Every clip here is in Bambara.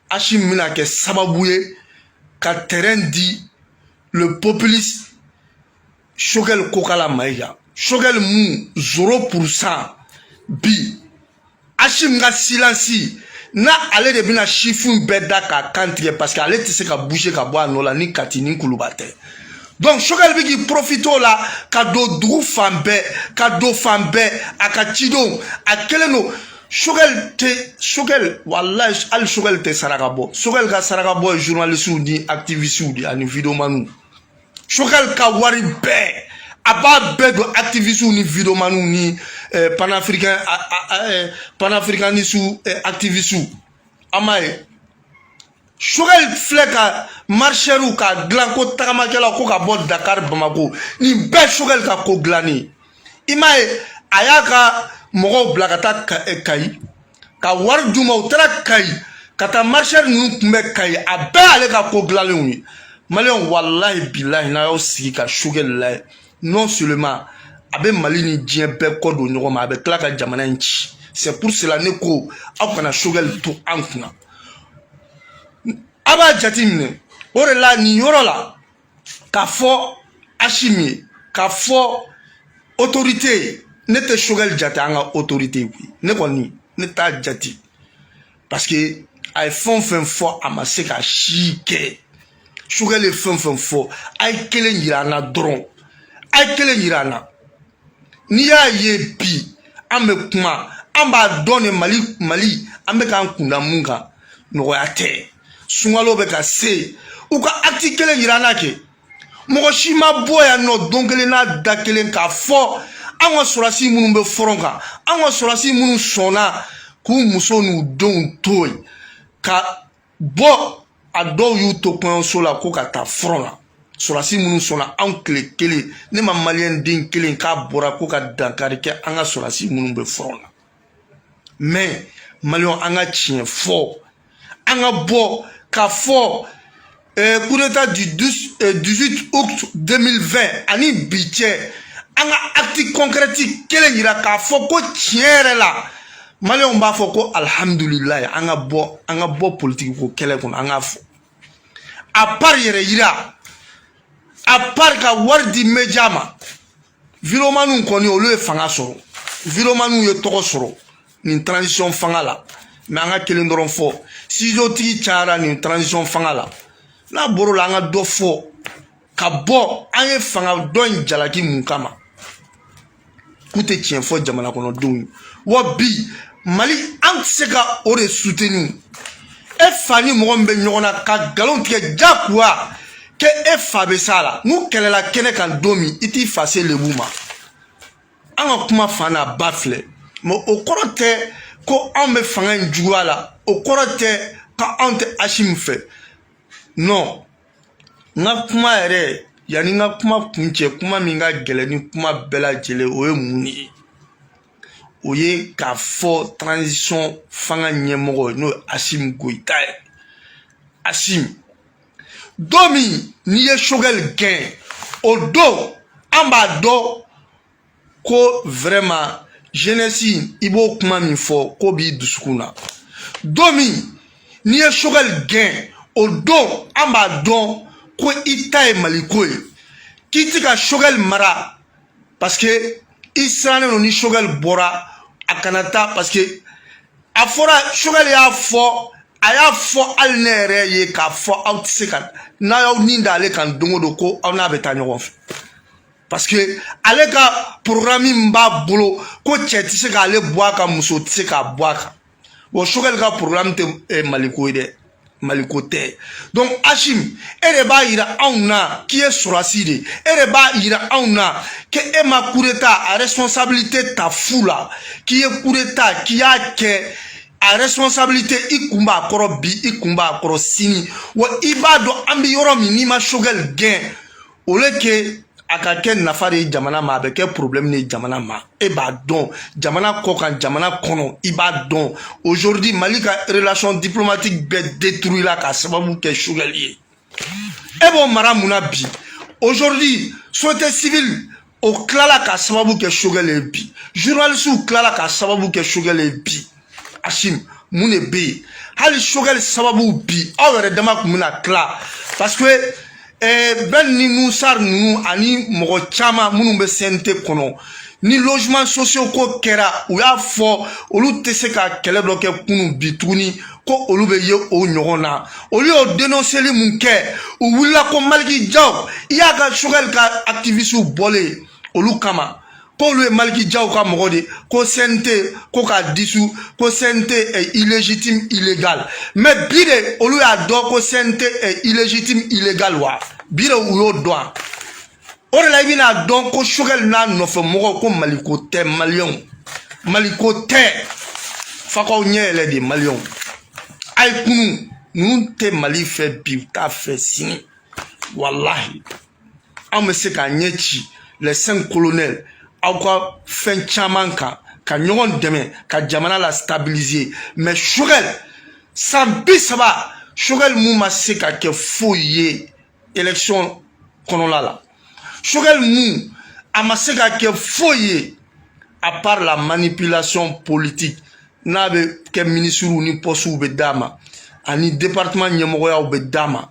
asimi bɛna kɛ sababu ye ka terrain di le populiste sogɛli kokala mayiga sogɛli mun zéro pourcent bi asimi ka silansi na ale de bɛna sifin bɛɛ da k'a kan tigɛ parce que ale tɛ se ka bouger ka bɔ a nɔ la ni kati ni kuluba tɛ donc sogɛli bɛ k'i profité o la ka don dugu fan bɛɛ ka don fan bɛɛ a ka cidenw a kɛlen don sogɛli tɛ sogɛli walayi hali sogɛli tɛ saraka bɔ sogɛli ka sarakabɔ ye journalisiw ni activisiw de ani videomaniw sogɛli ka wari bɛɛ a b'a bɛɛ don activisiw ni videomaniw ni eh, panafricain eh, panafricanisiw eh, activisiw an m'a ye sogɛl filɛ ka marishɛriw ka dilan ko tagamakɛlaw ko ka bɔ dakar bamako nin bɛɛ sogɛl ka ko dilannen i m'a ye a y'a ka mɔgɔw bila ka taa kayi ka wari d'u ma u taara kayi ka taa marishɛri ninnu kunbɛn kayi a bɛɛ ale ka ko dilanlenw ye maliyɛnw walahi bilahi n'a y'aw sigi ka sogɛl lajɛ non seulement a bɛ mali ni diɲɛ bɛɛ kɔ don ɲɔgɔn ma a bɛ tila ka jamana in ci c'est pour cela ne ko aw kana sogɛli to an kunna a b'a jateminɛ o de la nin yɔrɔ la k'a fɔ asimi ye k'a fɔ autorité ye ne tɛ sogɛli jate an ka autorité ye koyi ne kɔni ne t'a jate parce que a ye fɛn o fɛn fɔ a ma se ka si kɛ sogɛli ye fɛn o fɛn fɔ a ye kelen yira an na dɔrɔn a ye kelen yira an na n'i y'a ye bi an bɛ kuma an b'a dɔn de mali an bɛ k'an kun da mun kan nɔgɔya tɛ sunkalo bɛ ka se u ka acte kelen yira an na kɛ mɔgɔ si ma bɔ yan nɔ don kelen n'a da kelen k'a fɔ an ka sɔrɔdasi minnu bɛ fɔrɔn kan an ka sɔrɔdasi minnu sɔnna k'u muso n'u denw to yen ka bɔ a dɔw y'u to kɔɲɔso la ko ka taa fɔrɔn la sɔrɔdasi minnu sɔnna anw tile kelen ne ma maliyɛn den kelen k'a bɔra ko ka dankari kɛ an ka sɔrɔdasi minnu bɛ fɔrɔn na mais maliyɛnw an ka tiɲɛ fɔ an ka bɔ k'a fɔ eh, coup d'état du 12, eh, 18 août 2020 ani bi cɛ an ka acte concrète kelen yira k'a fɔ ko tiɲɛ yɛrɛ la maliyɛnw b'a fɔ ko alihamudulilayi an ka bɔ an ka bɔ politikiko kɛlɛ kɔnɔ an k'a fɔ à part yɛrɛyira à part ka wari di média ma vidéomanw kɔni olu ye fanga sɔrɔ vidéomanw ye tɔgɔ sɔrɔ nin transition fanga la mais an ka kelen dɔrɔn fɔ sizotigi cayara nin transition fanga la n'a bɔr'o la an ka dɔ fɔ ka bɔ an ye fanga dɔ in jalaki mun kama k'u tɛ tiɲɛ fɔ jamana kɔnɔdenw ye wa bi mali an tɛ se ka o de soutenir e fa ni mɔgɔ min bɛ ɲɔgɔn na ka nkalon tigɛ je crois que e fa bɛ s'a la n'u kɛlɛla kɛnɛ kan don min i t'i fa se lebu mais an ka kuma fa n'a ba filɛ mais o kɔrɔ tɛ ko anw bɛ fanga in juguya la o kɔrɔ tɛ ko anw tɛ asimi fɛ non n ka kuma yɛrɛ yanni n ka kuma kuncɛ kuma min ka gɛlɛn ni kuma bɛɛ lajɛlen o ye mun de ye o ye k'a fɔ transition fanga ɲɛmɔgɔ n'o ye asimi goyita ye asimi don min n'i ye sogɛli gɛn o don an b'a dɔn ko vraiment jeunesse i b'o kuma min fɔ k'o b'i dusukun na don min n'i ye sogɛli gɛn o don an b'a dɔn ko i ta ye maliko ye k'i ti ka sogɛli mara parce que i sirannen don ni sogɛli bɔra a kana taa parce que a fɔra sogɛli y'a fɔ a y'a fɔ hali ne yɛrɛ ye k'a fɔ aw tɛ se ka n'a y'aw ni da ale kan don o don ko aw n'a bɛ taa ɲɔgɔn fɛ parce que ale ka programme min b'a bolo ko cɛ tɛ se k'ale bɔ a kan muso tɛ se k'a bɔ a kan bon sogɛli ka programme tɛ eh, maliko ye dɛ maliko tɛ donc asimi e de b'a yira anw na k'i ye sɔrɔdasi de e de b'a yira anw na que e ma coup d'état a responsabilité ta fu la k'i ye coup d'état k'i y'a kɛ a responsabilité i kun b'a kɔrɔ bi i kun b'a kɔrɔ sini wa i b'a dɔn an bɛ yɔrɔ min n'i ma sogɛli gɛn au lieu que a ka kɛ nafa de ye jamana ma a bɛ kɛ problème de ye jamana ma e b'a dɔn jamana kɔkan jamana kɔnɔ i b'a dɔn aujourd'hui mali ka relation diplomatique bɛɛ détruit la k'a sababu kɛ sogɛli ye e b'o mara mun na bi aujourd'hui société civile o tilala k'a sababu kɛ sogɛl ye bi journalistew tilala k'a sababu kɛ sogɛl ye bi asimi mun de bɛ yen hali sogɛl sababu bi aw yɛrɛ dama tun bɛna tila parce que eh, bɛn ni nuhun sar ninnu ani mɔgɔ caman minnu bɛ cnt kɔnɔ ni logement sociaux ko kɛra u y'a fɔ olu tɛ se ka kɛlɛ dɔ kɛ kunu bi tuguni ko olu bɛ ye o ɲɔgɔn na olu y'o denonseli min kɛ u wulila ko maliki jaw i y'a ka sogɛli ka akitiwisiw bɔlen olu kama k'olu ye maliki jaw ka mɔgɔ de ko cnt ko k'a dissous ko cnt est illégitime illégal mais bi de olu y'a dɔn ko cnt est illégitime illégal wa bi de u y'o dɔn o de la i bɛna dɔn ko choguel n'a nɔfɛ mɔgɔw ko maliko tɛ maliyɛnw maliko tɛ f'a k'aw ɲɛ yɛlɛ de maliyɛnw a ye kunun ninnu tɛ mali fɛ bi u t'a fɛ sini walahi an bɛ se k'a ɲɛ ci les cinq colonels aw ka fɛn caman kan ka ɲɔgɔn dɛmɛ ka jamana la stabiliser mais choguel san bi saba choguel mun ma se ka kɛ foyi ye élection kɔnɔla la choguel mun a ma se ka kɛ foyi ye à part la manipulation politique n'a bɛ kɛ minisiriw ni pɔsiw bɛ d'a ma ani département ɲɛmɔgɔyaw bɛ d'a ma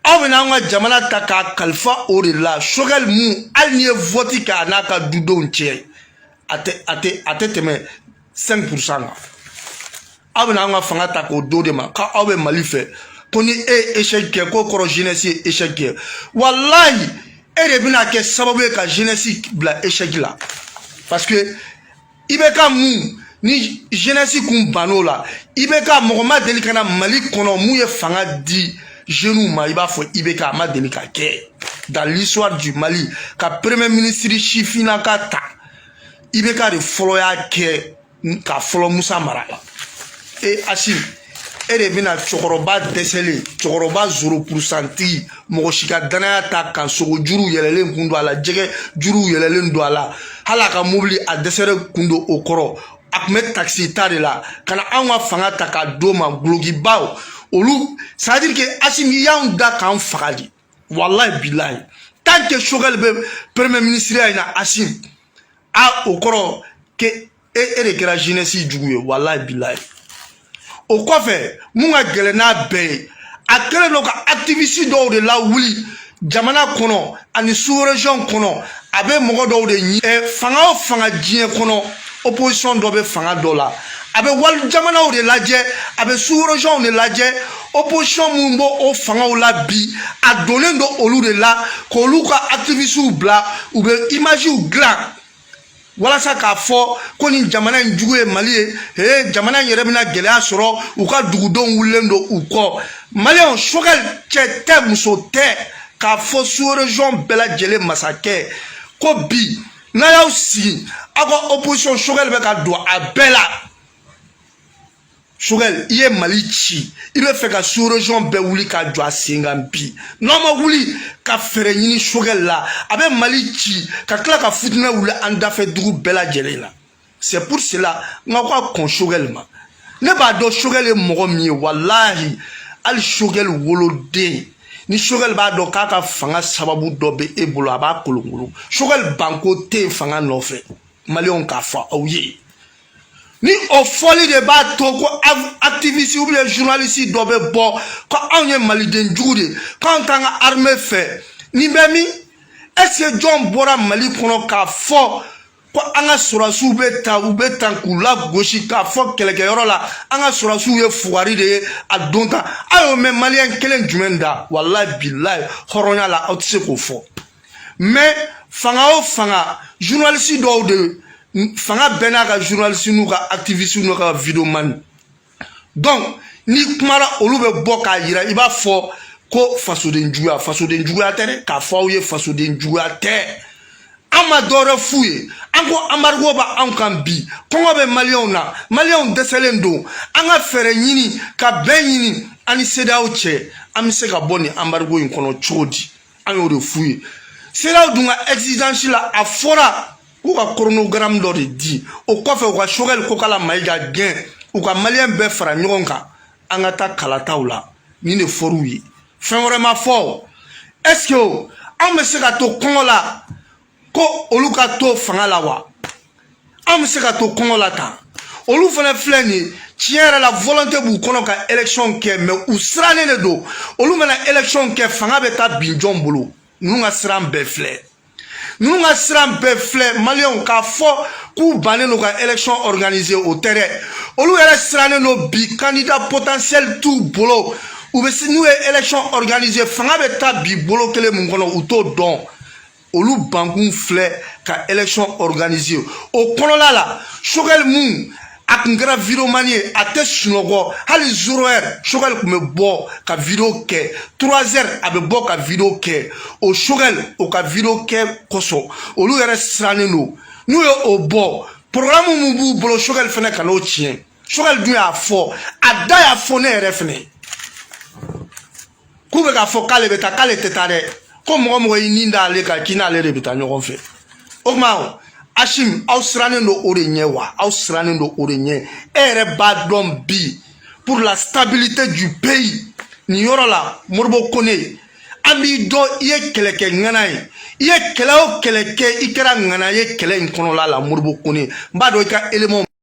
aw bɛna an ka jamana ta k'a kalifa o de la choguel mun hali n'i ye vɔti kɛ a n'a ka dudenw cɛ a tɛ a tɛ a tɛ tɛmɛ 5 pourcent kan aw bɛna anw ka fanga ta k'o do de ma ka aw bɛ mali fɛ ko ni e ye échec kɛ k'o kɔrɔ jeunesse ye échec kɛ walayi e de bɛna kɛ sababu ye ka jeunesse bila échec la parce que IBK mun ni jeunesse kun bann'o la IBK mɔgɔ ma deli ka na mali kɔnɔ mun ye fanga di jeunes ma i b'a fɔ IBK a ma deli ka kɛ dans l'histoire du mali ka premier ministre sifinnaka ta IBK de fɔlɔ y'a kɛ ka fɔlɔ musa mara la e asim e de bɛna cɛkɔrɔba dɛsɛlen cɛkɔrɔba zéro pourcent tigi mɔgɔ si ka danaya t'a kan sogo juruw yɛlɛlen kun don a la jɛgɛ juruw yɛlɛlen don a la hali a ka mobili a dɛsɛlen kun don o kɔrɔ a tun bɛ takisi ta de la ka na anw ka fanga ta ka d'o ma gulokibaw olu c'est-à-dire que asim i y'anw da k'an faga de walayi bilayi tant que choguel bɛ premier ministre ya in na asim a o kɔrɔ que e e de kɛra jeunesse jugu ye walayi bilayi o kɔfɛ mun ka gɛlɛn n'a bɛɛ ye a kɛlen don ka activiste dɔw de lawuli jamana kɔnɔ ani sous-région kɔnɔ a bɛ mɔgɔ dɔw de ɲi ɛ fanga o fanga diɲɛ kɔnɔ opposition dɔ bɛ fanga dɔ la a bɛ wali jamanaw de lajɛ a bɛ sous-régions de lajɛ opposition minnu b'o o fangaw la bi a donnen don olu de la k'olu ka activistes bila u bɛ images dilan walasa k'a fɔ ko nin jamana in jugu ye mali ye ee jamana in yɛrɛ bɛna gɛlɛya sɔrɔ u ka dugudenw wulilen don u kɔ maliyɛnw choguel cɛ tɛ muso tɛ k'a fɔ sous-région bɛɛ lajɛlen masakɛ ko bi n'a y'aw sigi aw ka opposition choguel bɛ ka don a bɛɛ la choguel i ye mali ci i bɛ fɛ ka sous-région bɛɛ wuli ka jɔ a sen kan bi n'aw ma wuli ka fɛɛrɛ ɲini choguel la a bɛ mali ci ka tila ka fitinɛ wuli an dafɛ dugu bɛɛ lajɛlen na c'est pour cela n ka ko a kɔn choguel ma ne b'a dɔn choguel ye mɔgɔ min ye walahi hali choguel woloden ni choguel b'a dɔn k'a ka fanga sababu dɔ bɛ e bolo a b'a kolonkolon choguel banko tɛ yen fanga nɔfɛ maliyɛnw k'a fɔ aw ye ni o fɔli de b'a to ko activiste ou bien journaliste dɔ bɛ bɔ ko anw ye maliden jugu de k'anw t'an ka armée fɛ nin bɛ min est ce que jɔn bɔra mali kɔnɔ k'a fɔ ko an ka sɔrɔdasiw bɛ ta u bɛ tan k'u lagosi k'a fɔ kɛlɛkɛyɔrɔ la an ka sɔrɔdasiw ye fugari de ye a don tan a y'o mɛn maliyɛn kelen jumɛn da walayi bilayi hɔrɔnya la aw tɛ se k'o fɔ mais fanga o fanga journaliste dɔw de fanga bɛɛ n'a ka journaliste n'u ka activiste n'u ka videoman donc n'i kumara olu bɛ bɔ k'a yira i b'a fɔ ko fasoden juguya fasoden juguya tɛ dɛ k'a fɔ aw ye fasoden juguya tɛ an ma dɔwɛrɛ f'u ye an ko embargo bɛ anw kan bi kɔngɔ bɛ maliyɛnw na maliyɛnw dɛsɛlen don an ka fɛɛrɛ ɲini ka bɛn ɲini an ni cedeao cɛ an bɛ se ka bɔ nin embargo in kɔnɔ cogo di an y'o de f'u ye cedeao dun ka exigence la a fɔra k'u ka chronogramme dɔ de di o kɔfɛ u ka choguel kokalla maïga gɛn u ka maliyɛn bɛɛ fara ɲɔgɔn kan an ka taa kalataw la nin de fɔr'u ye fɛn wɛrɛ ma fɔ est ce que an bɛ se ka to kɔngɔ la ko olu ka to fanga la wa an bɛ se ka to kɔngɔ la tan olu fana filɛ nin ye tiɲɛ yɛrɛ la volonté b'u kɔnɔ ka élection kɛ mais u sirannen de don olu mana élection kɛ fanga bɛ taa bin jɔn bolo ninnu ka siran bɛɛ filɛ ninnu ka siran bɛɛ filɛ maliyɛnw k'a fɔ k'u bannen don ka élection organiser o tɛ dɛ olu yɛrɛ sirannen don bi candidat potentiel t'u bolo u bɛ n'u ye élection organiser fanga bɛ taa bin bolo kelen mun kɔnɔ u t'o dɔn olu bankun filɛ ka élection organiser o kɔnɔla la choguel mun a kun kɛra videoman ye a tɛ sunɔgɔ hali zéro heure choguel kun bɛ bɔ ka video kɛ trois heures a bɛ bɔ ka video kɛ o choguel o ka video kɛ kosɔn olu yɛrɛ sirannen don n'u ye o bɔ programme mun b'u bolo choguel fɛnɛ kan'o tiɲɛ choguel dun y'a fɔ a da y'a fɔ ne yɛrɛ fɛnɛ ye k'u bɛ k'a fɔ k'ale bɛ taa k'ale tɛ taa dɛ ko mɔgɔ mɔgɔ y'i ni da ale kan k'i n'ale de bɛ taa ɲɔgɔn fɛ o tuma assimi aw sirannen don o de ɲɛ wa aw sirannen don o de ɲɛ e yɛrɛ b'a dɔn bi pour la stabilité du pays nin yɔrɔ la modibo kone an b'i dɔn i ye kɛlɛkɛ ŋana ye i ye kɛlɛ o kɛlɛ kɛ i kɛra ŋana ye kɛlɛ in kɔnɔla la modibo kone n b'a dɔn i ka élément